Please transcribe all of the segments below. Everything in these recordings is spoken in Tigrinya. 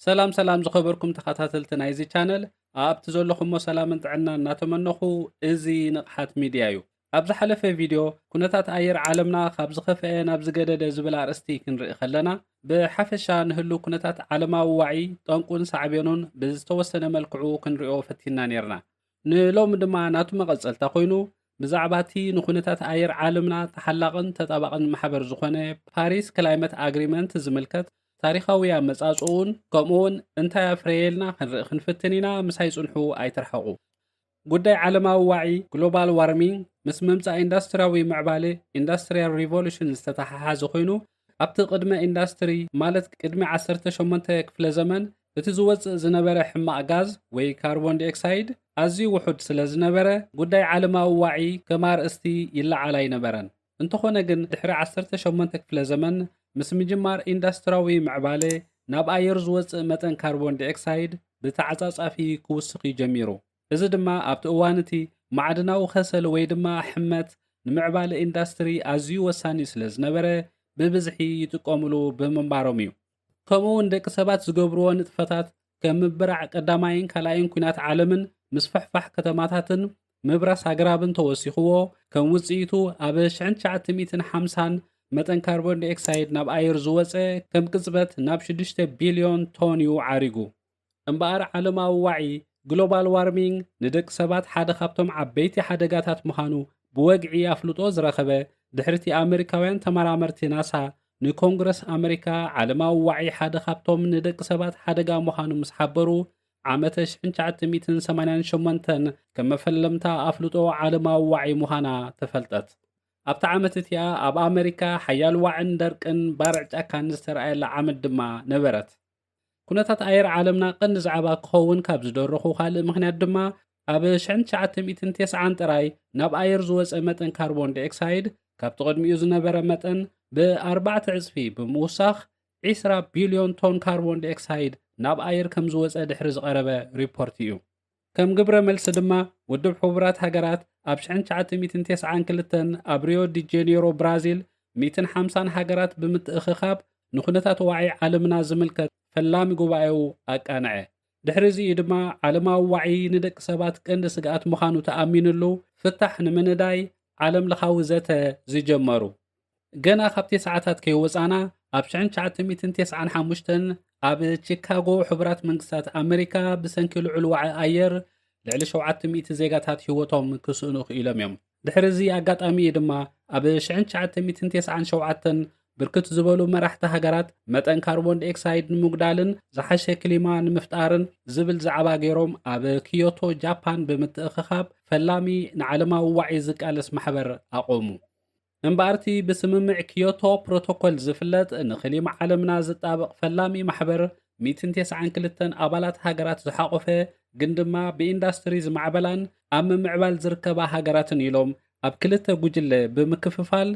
ሰላም ሰላም ዝኸበርኩም ተኸታተልቲ ናይዚ ቻነል ኣብቲ ዘለኹሞ ሰላምን ጥዕና እናተመነኹ እዚ ንቕሓት ሚድያ እዩ ኣብ ዝሓለፈ ቪድዮ ኩነታት ኣየር ዓለምና ካብ ዝኸፍአ ናብ ዝገደደ ዝብል ኣርእስቲ ክንርኢ ከለና ብሓፈሻ ንህሉ ኩነታት ዓለማዊ ዋዒ ጠንቁን ሳዕቤኑን ብዝተወሰነ መልክዑ ክንሪኦ ፈቲና ነርና ንሎሚ ድማ ናቱ መቐጸልታ ኮይኑ ብዛዕባ እቲ ንኩነታት ኣየር ዓለምና ተሓላቕን ተጣባቕን ማሕበር ዝኾነ ፓሪስ ክላይመት ኣግሪመንት ዝምልከት ታሪኻዊ ኣመጻጽኡን ከምኡውን እንታይ ኣፍረየልና ክንርኢ ክንፍትን ኢና ምሳይ ጽንሑ ኣይትርሓቑ ጉዳይ ዓለማዊ ዋዒ ግሎባል ዋርሚንግ ምስ ምምፃእ ኢንዳስትሪያዊ ምዕባለ ኢንዳስትሪያል ሪቮሉሽን ዝተተሓሓዘ ኮይኑ ካብቲ ቅድመ ኢንዳስትሪ ማለት ቅድሚ ዓሰርተ ሸሞንተ ክፍለ ዘመን እቲ ዝወጽእ ዝነበረ ሕማቕ ጋዝ ወይ ካርቦንዲኦክሳይድ ኣዝዩ ውሑድ ስለ ዝነበረ ጉዳይ ዓለማዊ ዋዒ ከም ኣርእስቲ ይለዓል ኣይነበረን። እንተኾነ ግን ድሕሪ ዓሰርተ ሸሞንተ ክፍለ ዘመን ምስ ምጅማር ኢንዳስትራዊ ምዕባለ ናብ ኣየር ዝወጽእ መጠን ካርቦንዲኦክሳይድ ብተዓጻጻፊ ክውስኽ'ዩ ጀሚሩ። እዚ ድማ ኣብቲ እዋን እቲ ማዕድናዊ ከሰል ወይ ድማ ሕመት ንምዕባለ ኢንዳስትሪ ኣዝዩ ወሳኒ ስለ ዝነበረ ብብዝሒ ይጥቀሙሉ ብምንባሮም እዩ። ከምኡ እውን ደቂ ሰባት ዝገብርዎ ንጥፈታት ከም ምብራዕ ቀዳማይን ካልኣይን ኲናት ዓለምን ምስፍሕፋሕ ከተማታትን ምብራስ ኣግራብን ተወሲኽዎ ከም ውፅኢቱ ኣብ ሽሕን ትሽዓተ ሚእትን ሓምሳን መጠን ካርቦንዳይኦክሳይድ ናብ ኣየር ዝወፀ ከም ቅፅበት ናብ ሽዱሽተ ቢልዮን ቶን እዩ ዓሪጉ። እምበኣር ዓለማዊ ዋዒ፣ ግሎባል ዋርሚንግ፣ ንደቂ ሰባት ሓደ ካብቶም ዓበይቲ ሓደጋታት ምዃኑ ብወግዒ ኣፍልጦ ዝረኸበ፣ ድሕሪ'ቲ ኣመሪካውያን ተመራመርቲ ናሳ ንኮንግረስ ኣመሪካ ዓለማዊ ዋዒ ሓደ ካብቶም ንደቂ ሰባት ሓደጋ ምዃኑ ምስ ሓበሩ ዓመተ ሽሕን ትሽዓተ ሚእትን ሰማንያን ሸሞንተን ከም መፈለምታ ኣፍልጦ ዓለማዊ ዋዒ ምዃና ተፈልጠት። ኣብታ ዓመት እቲኣ ኣብ ኣመሪካ ሓያል ዋዕን ደርቅን ባርዕ ጫካን ዝተርኣየላ ዓመት ድማ ነበረት። ኩነታት ኣየር ዓለምና ቀንዲ ዛዕባ ክኸውን ካብ ዝደረኹ ካልእ ምኽንያት ድማ ኣብ 1990 ጥራይ ናብ ኣየር ዝወፀ መጠን ካርቦን ዲኦክሳይድ ካብቲ ቅድሚኡ ዝነበረ መጠን ብኣርባዕተ ዕፅፊ ብምውሳኽ 20 ቢልዮን ቶን ካርቦን ዲኦክሳይድ ናብ ኣየር ከም ዝወፀ ድሕሪ ዝቐረበ ሪፖርት እዩ። ከም ግብረ መልሲ ድማ ውድብ ሕቡራት ሃገራት ኣብ ሽሕን ትሽዓተ ሚእትን ቴስዓን ክልተን ኣብ ሪዮ ዲ ጄኔሮ ብራዚል ሚእትን ሓምሳን ሃገራት ብምትእኽኻብ ንኩነታት ዋዒ ዓለምና ዝምልከት ፈላሚ ጉባኤኡ ኣቃንዐ። ድሕሪ እዚ እዩ ድማ ዓለማዊ ዋዒ ንደቂ ሰባት ቀንዲ ስግኣት ምዃኑ ተኣሚንሉ ፍታሕ ንምንዳይ ዓለም ለኻዊ ዘተ ዝጀመሩ። ገና ካብ ቴስዓታት ከይወጻና ኣብ ሽሕን ትሽዓተ ሚእትን ቴስዓን ሓሙሽተን ኣብ ቺካጎ ሕቡራት መንግስታት ኣመሪካ ብሰንኪ ልዑል ዋዒ ኣየር ልዕሊ ሸውዓተ ሚእቲ ዜጋታት ህይወቶም ክስእኑ ክኢሎም እዮም። ድሕሪ እዚ ኣጋጣሚ እዩ ድማ ኣብ ሽሕን ትሽዓተ ሚእትን ቴስዓን ሸውዓተን ብርክት ዝበሉ መራሕቲ ሃገራት መጠን ካርቦን ዲኦክሳይድ ንምጉዳልን ዝሓሸ ክሊማ ንምፍጣርን ዝብል ዛዕባ ገይሮም ኣብ ክዮቶ ጃፓን ብምትእኽኻብ ፈላሚ ንዓለማዊ ዋዒ ዝቃለስ ማሕበር ኣቖሙ። እምበኣር'ቲ ብስምምዕ ኪዮቶ ፕሮቶኮል ዝፍለጥ ንክሊማ ዓለምና ዝጣበቕ ፈላሚ ማሕበር ሚእትን ቴስዓን ክልተን ኣባላት ሃገራት ዝሓቖፈ ግን ድማ ብኢንዳስትሪ ዝማዕበላን ኣብ ምምዕባል ዝርከባ ሃገራትን ኢሎም ኣብ ክልተ ጉጅለ ብምክፍፋል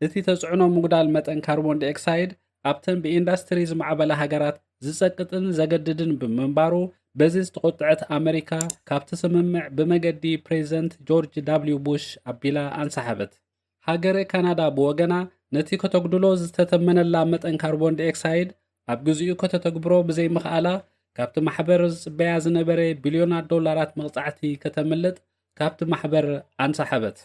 እቲ ተፅዕኖ ምጉዳል መጠን ካርቦንዳይኦክሳይድ ኣብተን ብኢንዳስትሪ ዝማዕበላ ሃገራት ዝጸቅጥን ዘገድድን ብምንባሩ በዚ ዝተቖጥዐት ኣመሪካ ካብቲ ስምምዕ ብመገዲ ፕሬዚደንት ጆርጅ ዳብልዩ ቡሽ ኣቢላ ኣንሰሓበት። ሃገረ ካናዳ ብወገና ነቲ ከተጉድሎ ዝተተመነላ መጠን ካርቦን ዳይኦክሳይድ ኣብ ግዚኡ ከተተግብሮ ብዘይምኽኣላ ካብቲ ማሕበር ዝጽበያ ዝነበረ ቢልዮናት ዶላራት መቕጻዕቲ ከተምልጥ ካብቲ ማሕበር ኣንሰሓበት።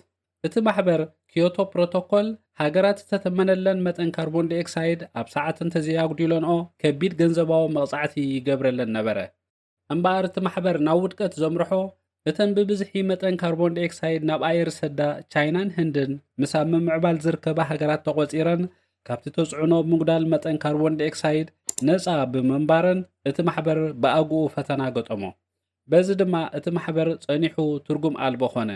እቲ ማሕበር ክዮቶ ፕሮቶኮል ሃገራት ዝተተመነለን መጠን ካርቦን ዲኦክሳይድ ኣብ ሰዓት እንተዘይኣጉዲለንኦ ከቢድ ገንዘባዊ መቕጻዕቲ ይገብረለን ነበረ። እምበኣር እቲ ማሕበር ናብ ውድቀት ዘምርሖ እተን ብብዝሒ መጠን ካርቦን ዲኦክሳይድ ናብ ኣየር ዝሰዳ ቻይናን ህንድን ምስ ኣብ ምምዕባል ዝርከባ ሃገራት ተቖጺረን ካብቲ ተጽዕኖ ምጉዳል መጠን ካርቦን ዲኦክሳይድ ነጻ ብምንባረን እቲ ማሕበር ብኣግኡ ፈተና ገጠሞ። በዚ ድማ እቲ ማሕበር ጸኒሑ ትርጉም ኣልቦ ኮነ።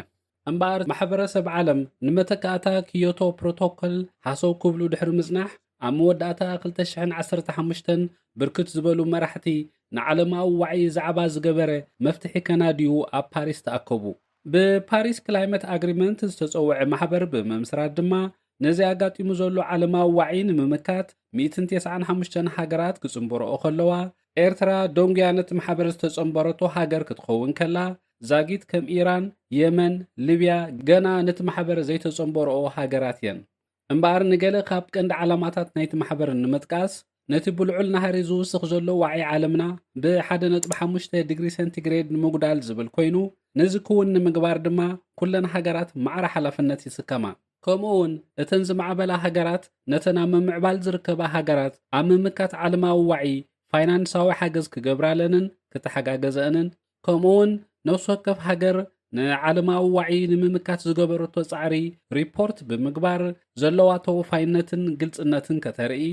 እምበኣር ማሕበረሰብ ዓለም ንመተካእታ ክዮቶ ፕሮቶኮል ሃሰው ክብሉ ድሕሪ ምጽናሕ ኣብ መወዳእታ ክልተ ሽሕን ዓሰርተ ሓሙሽተን ብርክት ዝበሉ መራሕቲ ንዓለማዊ ዋዒ ዛዕባ ዝገበረ መፍትሒ ከናድዩ ኣብ ፓሪስ ተኣከቡ። ብፓሪስ ክላይመት ኣግሪመንት ዝተጸውዐ ማሕበር ብምምስራት ድማ ነዚ ኣጋጢሙ ዘሎ ዓለማዊ ዋዒ ንምምካት ሚእትን ቴስዓን ሓሙሽተን ሃገራት ክጽንበረኦ ከለዋ ኤርትራ ደንጉያ ነቲ ማሕበር ዝተጸንበረቶ ሃገር ክትኸውን ከላ ዛጊት ከም ኢራን፣ የመን፣ ልብያ ገና ነቲ ማሕበር ዘይተጸንበርኦ ሃገራት እየን። እምበኣር ንገለ ካብ ቀንዲ ዓላማታት ናይቲ ማሕበር ንምጥቃስ፣ ነቲ ብልዑል ናህሪ ዝውስኽ ዘሎ ዋዒ ዓለምና ብ ሓደ ነጥቢ ሓሙሽተ ዲግሪ ሰንቲግሬድ ንምጉዳል ዝብል ኮይኑ፣ ነዚ ክውን ንምግባር ድማ ኩለን ሃገራት ማዕረ ሓላፍነት ይስከማ። ከምኡውን እተን ዝማዕበላ ሃገራት ነተን ኣብ ምምዕባል ዝርከባ ሃገራት ኣብ ምምካት ዓለማዊ ዋዒ ፋይናንሳዊ ሓገዝ ክገብራለንን ክተሓጋገዘእንን ከምኡ'ውን ነፍሲ ወከፍ ሃገር ንዓለማዊ ዋዒ ንምምካት ዝገበረቶ ጻዕሪ ሪፖርት ብምግባር ዘለዋ ተወፋይነትን ግልጽነትን ከተርኢ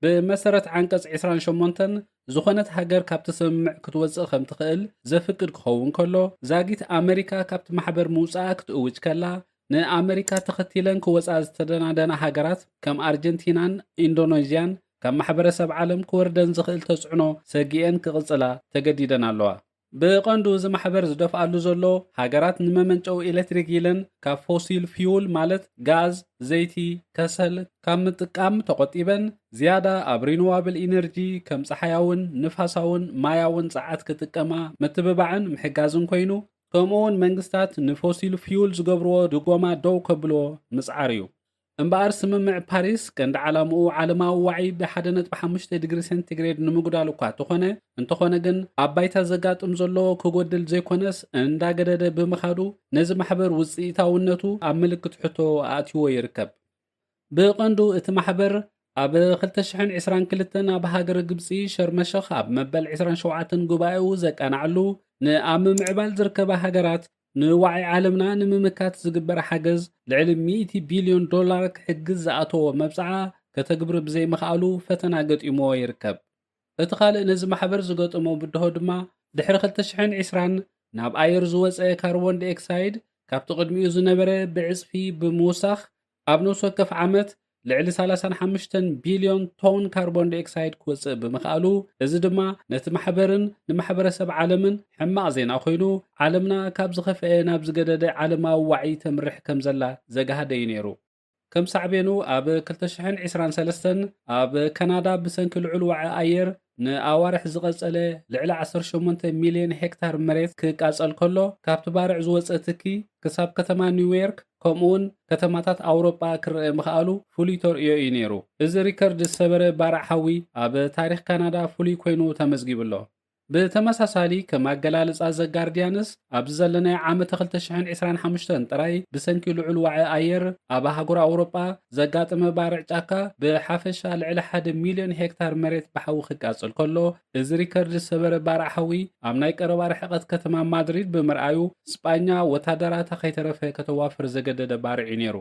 ብመሰረት ዓንቀጽ ዕስራን ሸሞንተን ዝኾነት ሃገር ካብቲ ስምምዕ ክትወጽእ ከም ትኽእል ዘፍቅድ ክኸውን ከሎ ዛጊት ኣመሪካ ካብቲ ማሕበር ምውጽኣ ክትእውጅ ከላ ንኣመሪካ ተኸቲለን ክወፃ ዝተደናደና ሃገራት ከም ኣርጀንቲናን ኢንዶኖዥያን ካብ ማሕበረሰብ ዓለም ክወርደን ዝኽእል ተፅዕኖ ሰጊኤን ክቕፅላ ተገዲደን ኣለዋ። ብቐንዱ እዚ ማሕበር ዝደፍኣሉ ዘሎ ሃገራት ንመመንጨዊ ኤሌክትሪክ ኢለን ካብ ፎሲል ፊውል ማለት ጋዝ፣ ዘይቲ፣ ከሰል ካብ ምጥቃም ተቖጢበን ዝያዳ ኣብ ሪኑዋብል ኢነርጂ ከም ፀሓያውን ንፋሳውን ማያውን ፀዓት ክጥቀማ ምትብባዕን ምሕጋዝን ኮይኑ ከምኡ'ውን መንግስታት ንፎሲል ፍዩል ዝገብርዎ ድጎማ ደው ከብልዎ ምጽዓር እዩ። እምበኣር ስምምዕ ፓሪስ ቀንዲ ዓላምኡ ዓለማዊ ዋዒ ብ ሓደ ነጥቢ ሓሙሽተ ዲግሪ ሴንቲግሬድ ንምጉዳል እኳ ተኾነ፣ እንተኾነ ግን ኣብ ባይታ ዘጋጥም ዘሎ ክጎድል ዘይኮነስ እንዳገደደ ብምኻዱ ነዚ ማሕበር ውጽኢታውነቱ ኣብ ምልክት ሕቶ ኣእትይዎ ይርከብ። ብቐንዱ እቲ ማሕበር ኣብ ክልተ ሽሕን ዕስራን ክልተን ኣብ ሃገረ ግብጺ ሸርመሸኽ ኣብ መበል ዕስራን ሸውዓተን ጉባኤኡ ዘቃናዕሉ ንኣብ ምምዕባል ዝርከባ ሃገራት ንዋዒ ዓለምና ንምምካት ዝግበር ሓገዝ ልዕሊ ሚእቲ ቢልዮን ዶላር ክሕግዝ ዝኣተዎ መብጽዓ ከተግብር ብዘይምኽኣሉ ፈተና ገጢምዎ ይርከብ። እቲ ካልእ ነዚ ማሕበር ዝገጠሞ ብድሆ ድማ ድሕሪ ክልተ ሽሕን ዕስራን ናብ ኣየር ዝወጸ ካርቦን ዲኦክሳይድ ካብቲ ቅድሚኡ ዝነበረ ብዕጽፊ ብምውሳኽ ኣብ ነብሲ ወከፍ ዓመት ልዕሊ ሰላሳን ሓሙሽተን ቢልዮን ቶን ካርቦን ዲኦክሳይድ ክወጽእ ብምኽኣሉ እዚ ድማ ነቲ ማሕበርን ንማሕበረሰብ ዓለምን ሕማቕ ዜና ኮይኑ ዓለምና ካብ ዝኸፍኤ ናብ ዝገደደ ዓለማዊ ዋዒ ተምርሕ ከምዘላ ዘግሃደ እዩ ነይሩ። ከም ሳዕቤኑ ኣብ ክልተ ሽሕን ዕስራን ሰለስተን ኣብ ከናዳ ብሰንኪ ልዑል ዋዒ ኣየር ንኣዋርሕ ዝቐጸለ ልዕሊ ዓሰርተ ሸሞንተ ሚልዮን ሄክታር መሬት ክቃጸል ከሎ ካብቲ ባርዕ ዝወጸ ትኪ ክሳብ ከተማ ኒውዮርክ ከምኡውን ከተማታት ኣውሮጳ ክረኣ ምኽኣሉ ፍሉይ ተርእዮ እዩ ነይሩ። እዚ ሪከርድ ዝሰበረ ባርዕ ሓዊ ኣብ ታሪኽ ካናዳ ፍሉይ ኮይኑ ተመዝጊቡ ኣሎ። ብተመሳሳሊ ከም ኣገላልጻ ዘ ጋርድያንስ ኣብዚ ዘለናዮ ዓመተ ክልተ ሽሕን ዕስራን ሓሙሽተን ጥራይ ብሰንኪ ልዑል ዋዒ ኣየር ኣብ ኣህጉር ኣውሮጳ ዘጋጠመ ባርዕ ጫካ ብሓፈሻ ልዕሊ ሓደ ሚልዮን ሄክታር መሬት ብሓዊ ክቃጸል ከሎ እዚ ሪከርድ ዝሰበረ ባርዕ ሓዊ ኣብ ናይ ቀረባ ርሕቐት ከተማ ማድሪድ ብምርኣዩ ስጳኛ ወታደራታ ከይተረፈ ከተዋፍር ዘገደደ ባርዕ'ዩ ነይሩ።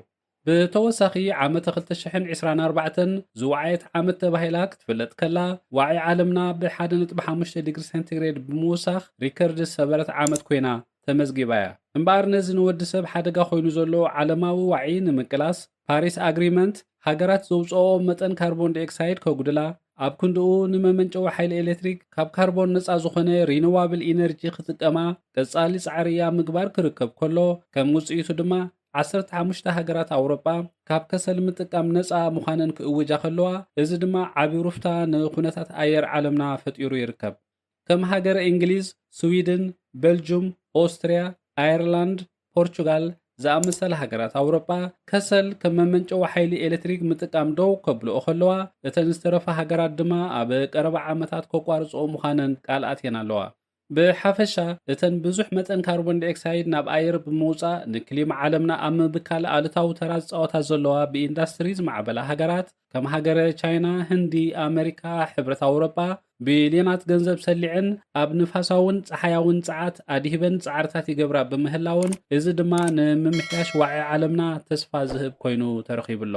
ብተወሳኺ ዓመተ ክልተ ሽሕን ዕስራን ኣርባዕተን ዝወዓየት ዓመት ተባሂላ ክትፍለጥ ከላ፣ ዋዒ ዓለምና ብ ሓደ ነጥቢ ሓሙሽተ ዲግሪ ሴንቲግሬድ ብምውሳኽ ሪከርድ ዝሰበረት ዓመት ኮይና ተመዝጊባ'ያ። እምበኣር ነዚ ንወዲሰብ ሓደጋ ኮይኑ ዘሎ ዓለማዊ ዋዒ ንምቅላስ ፓሪስ ኣግሪመንት ሃገራት ዘውጽኦኦ መጠን ካርቦን ዳይኦክሳይድ ከጉድላ፣ ኣብ ክንድኡ ንመመንጨዊ ሓይሊ ኤሌክትሪክ ካብ ካርቦን ነጻ ዝኾነ ሪነዋብል ኢነርጂ ክጥቀማ ቀጻሊ ጻዕሪ'ያ ምግባር ክርከብ ከሎ ከም ውጽኢቱ ድማ ዓሰርተ ሓሙሽተ ሃገራት ኣውሮጳ ካብ ከሰል ምጥቃም ነጻ ምዃነን ክእውጃ ከለዋ፣ እዚ ድማ ዓቢ ሩፍታ ንኩነታት ኣየር ዓለምና ፈጢሩ ይርከብ። ከም ሃገረ እንግሊዝ፣ ስዊድን፣ በልጁም፣ ኦስትርያ፣ ኣየርላንድ፣ ፖርቹጋል ዝኣመሰላ ሃገራት ኣውሮጳ ከሰል ከም መመንጨዊ ሓይሊ ኤሌክትሪክ ምጥቃም ደው ከብልኦ ከለዋ፣ እተን ዝተረፋ ሃገራት ድማ ኣብ ቀረባ ዓመታት ከቋርጽኦ ምዃነን ቃል ኣትየን ኣለዋ። ብሓፈሻ፣ እተን ብዙሕ መጠን ካርቦን ዳይኦክሳይድ ናብ ኣየር ብምውጻእ ንክሊማ ዓለምና ኣብ ምብካል ኣሉታዊ ተራ ዝጻወታ ዘለዋ ብኢንዳስትሪ ዝማዕበላ ሃገራት ከም ሃገረ ቻይና፣ ህንዲ፣ ኣመሪካ፣ ሕብረት ኣውሮጳ ቢልዮናት ገንዘብ ሰሊዐን ኣብ ንፋሳውን ጸሓያውን ጸዓት ኣድሂበን ጻዕርታት ይገብራ ብምህላወን እዚ ድማ ንምምሕያሽ ዋዒ ዓለምና ተስፋ ዝህብ ኮይኑ ተረኺቡ ኣሎ።